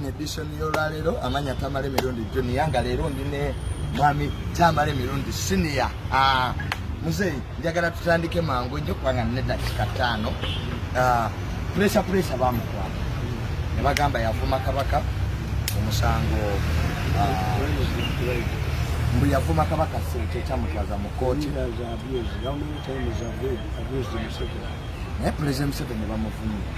edition y'olwaleero amanya tamale mirundi junior nga leero ndi ne mwami tamale mirundi siniya ah, muzeeyi njagala tutandike mangu nnyo kubanga nedakika ttaano ah, puresa puresa bamukwata ne bagamba yavuma kabaka omusango ah, mbu yavuma kabaka sente ekyamutwaza mu kooti naye pulezida museveni bamuvumye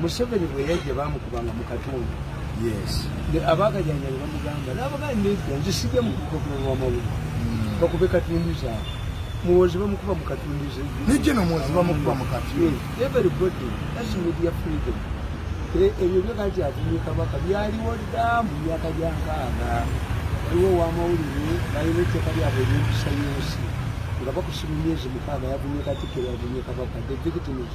museveni bwe yajja bamukubanga mu katundu abakajanja ne bamugamba nabagaa nedda nze sijja mukukokulolwa amawulire hmm. bakube katundu zaabwe muwozi bamukuba mu katundu ze nijje no muwozi bamukuba mu katundu hmm. every body that's media freedom eh, ebyo byeka nti avumye kabaka byaliwo dda mu myaka gya nkaaga waliwo owamawulire balina etteeka lyabwe ebyempisa y'ensi nga bakusima emyezi mukaaga yavumye katikkiro yavumye kabaka the victims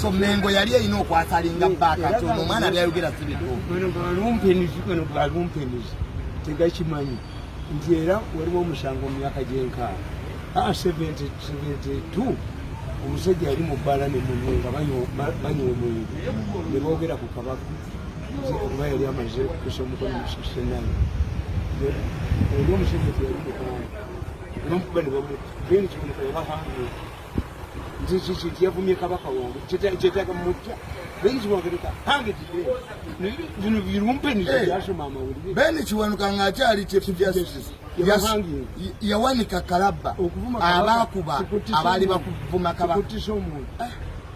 So Mengo yali erina okwasalinga bbaaka nti ono omwana byayogera si bituufu. Bano balumpenuzi bano balumpenuzi tegakimanyi nti era waliwo omusango mu myaka gy'enkaaga aa 72 omusajja yali mu bbaala ne munne nga banywa omwenge ne boogera ku kabaka kuba yali amaze okusa omukono mu 69 eri omusajja teyali mukaaga ne bamukuba ne bamukuba ne bamukuba ne bamukuba nti yavumye kabaka wange kyetaaga mumutya beni kiwanuka nga akyali chief justice yawanika kalabba abaakuba abaali bakuvuma kabaka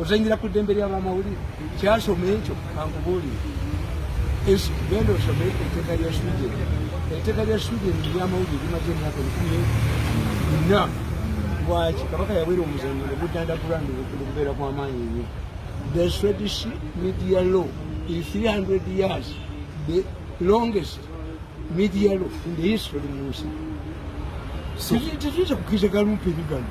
ozanyira ku ddembe lyabamawulire kyasoma ekyo kankubuulire genda osome etteeka lya sweden etteeka lya sweden lyamawulire limaze emyaka lukumi na lwaki kabaka yawera omuzanyo negudandagulani okubeera kwamaanyi nnyo the swedish media law in 300 years the longest media law in the history munsi tetuyinza kukkiriza galumpa ebigano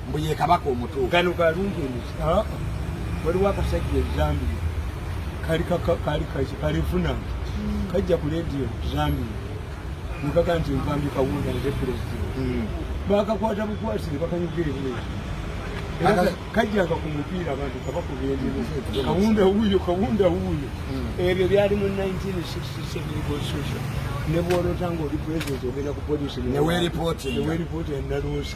mbu ye kabaka omutuufu gano galungi ah, waliwo akasajja ezambiya kalifuna hmm. kajja ku lediyo zambiya nekaga nti nvambi kawunda nze pulezidenti hmm. bakakwata bukwasi nebakanyuga ebintu kajjanga ku mupiira abantu kabakubyendimu kawunda wuuyo kawunda wuuyo hmm. ebyo byali mu 1967 constitution nebwolota nga oli president ogenda ku polisi neweripooti enaloosi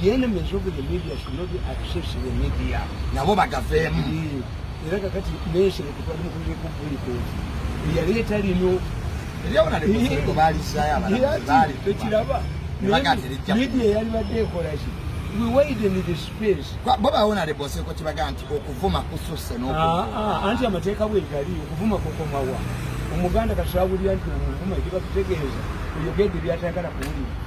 the enemies of the media should not access the media nabo bagaveemu mm. era kakati nesere kutwali mukulireko buli kooti eyaleeta lino ekiraba media yalibadde ekolaki bo bawonale boseko kibaga nti okuvuma kususse ah, ah, anti amateeka bwegali okuvuma kukomawa omuganda kasabulira nti omuvuma kiba kutegeeza oyogedde byatagala kuwulira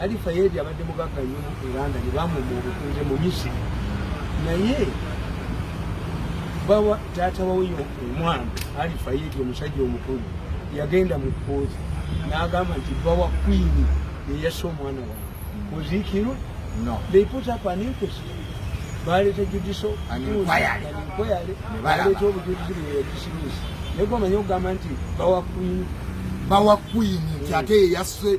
Ali Fayedi abadde mugagga nnyo mu Iranda ne bamumba obukunje mu Misiri naye bawa taata wawe omwana Ali Fayedi omusajja omukulu yagenda mu kkooti n'agamba nti bawa kwini yeyasa omwana wawe muziikirwe no they put up an inquest baleeta judicial inquiry baleeta obujulizi bwe yadismiss naye gwe omanyi okugamba nti bawa kwini bawa kwini nti ate yeyase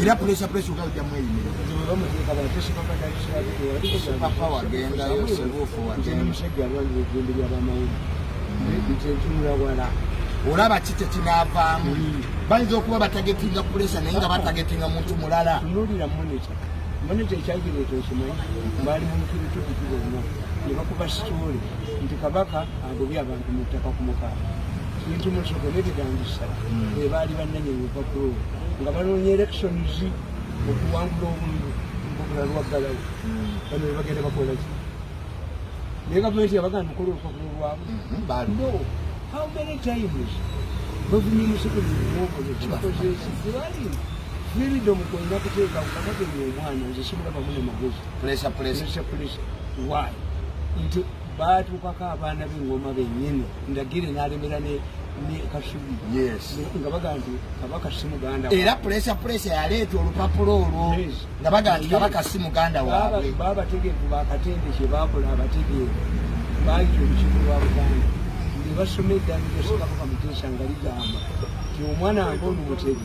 era pulesa pulesa oga ojja mweyimira papa wagenda yosebuufu wagendaomusajjaabandibyendibyabamawulire olaba ki kyekinavaamu bayinza okuba batagetinga pulesa naye nga batagetinga muntu mulala tunulira monita monita ekyagireeta okimanyi baali mumukiritutuki bonna ne bakuba sitoole nti kabaka agobye abantu mu ttaka ku mukaala kintu musoke nebigandisa ebaali bannanyi olupapula olwo nga banoonya elections okuwangula obululu obulala lwaggalawo bano bebagenda bakola ki naye gavumenti yabagana okola olupapula olwabwe bano how many times bavumye museveni muwokolekikozesibali freedom kwenda kuteeka kukabagenye omwana nze simulabamu ne magezi pulesa pulesa pulesa why nti baatuukako abaana b'engoma bennyini ndagire n'alemera ne era pulesa pulesa yaleeta olupapula olwo nga bagamba nti kabaka si muganda waabwe babategeevu bakatende kyebakola abategeevu baayita olukiiko lwa buganda ne basoma eddalu lyosikabuka muteesa nga ligamba ti omwana nga ono mutebi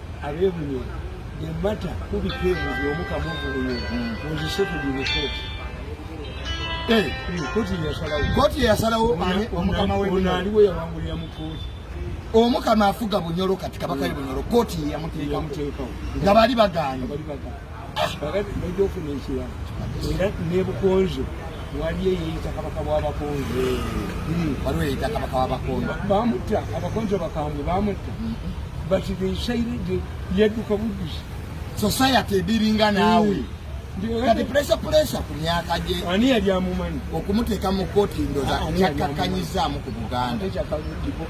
abebunyola demata kubika ebuzi omu kamuvulunyola hmm. muzise tulimu koti eh, koti yasalawo koti yasalawo omukama webunaaliwe yawangulira mu koti omukama afuga bunyolo kati kabaka ye bunyolo koti yeyamuteekawo nga bali baganye kakati mujja ofuna ekira era nebukonzo waliyo eyeyita kabaka bwabakonzo hmm. waliwo eyeyita kabaka wabakonzo bamutta abakonzo bakambwe bamutta hmm. but they said yadduka buddusi society ediringa naawe hmm. kati pulesa pulesa ku myaka gye ani yali amumanyi okumuteeka mu kkooti ndoza ah, kyakkakkanyizzaamu ku buganda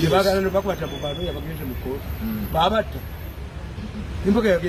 Yes. Bagala no bakwata mu bantu yabagenze mu court. Mm. Babatta. Imbuga yagenda.